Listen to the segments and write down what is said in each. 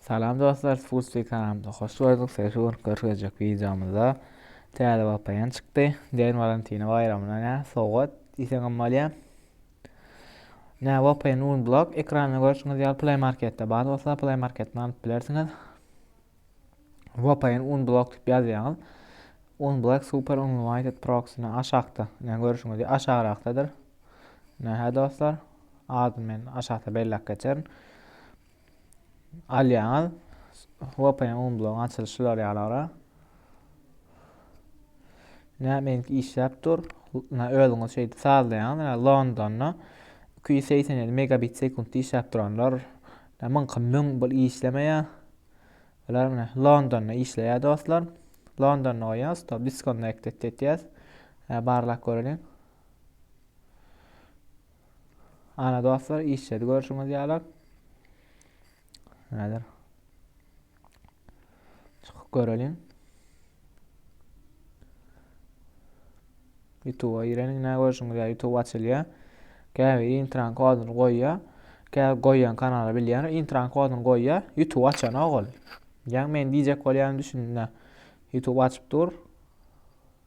Salam dostlar, Sputsi kanalymyza hoş gördük. Şu gün görkezjek videomyzda täze VPN çykdy. Deň Valentina baýramyna nä sowgat diýseňem bolýar. Nä VPN Unblock ekranda görüşiňiz ýaly Play Marketde bar bolsa Play Marketden alyp bilersiňiz. VPN Unblock diýip ýazýaňyz. Unblock Super Unlimited Proxy-ni aşakda. Nä görüşiňiz ýaly aşagrakdadyr. Nä dostlar. Adyny men aşakda belläp geçerin. Alýaňyz. VPN umblogyň açylyşy şular ýalara. Nämeňki işläp dur. Özüňiz şeýdip sazlaýaňyz. Londonda 287 megabit sekuntda işläp duranlar. Mıňky müň bir işlemeýär. Bular mine Londonda işleýär dostlar. Londonda goýýas, to disconnected etýäs. Barlap göreliň. Ana dostlar işledi görüşüňiz ýalar. Näder? Çykyp göreliň. YouTube-a gireniň nä görüşüňiz ýalar. YouTube açylýar. Käbir intran koduny goýýar. Käbir goýýan kanala bilýär. Intran koduny goýýar. YouTube açan ogul. Ýa men diýjek bolýan düşündüm. YouTube açyp dur.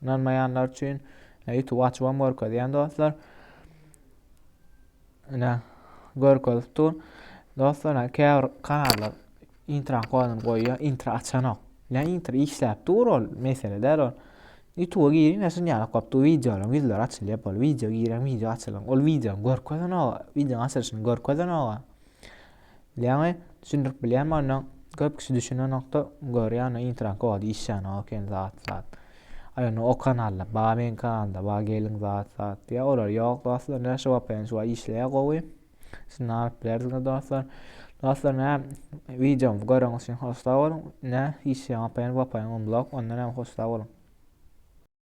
Ynanmaýanlar üçin YouTube açybam görkezýän dostlar. Ine görkezip dur. Dostlar, ine käbir kanallar intro koduny goýýar, intro açanok. Ne intro işläp dur ol, mesele däl ol. YouTube giriň, şun ýaly gopdy wideolaryň ýüzleri açylýar, bol wideo giren, wideo açylan. Ol wideony görkezenok, wideonyň açylyşyny görkezenok. Ýaňy düşündirip bilýän bolna köp kişi düşünenokda görýän intran kod işýän ok ýaly zat zat. Ay onu o kanalda ba men kanalda ba gelin zat zat diýä olar ýok dostlar ne şu vpn şu işleýä gowy. Siz näme bilersiňiz dostlar. Dostlar ne videomu göreniz üçin hoşda boluň. Ne işleýän vpn vpn unlock ondan hem hoşda boluň.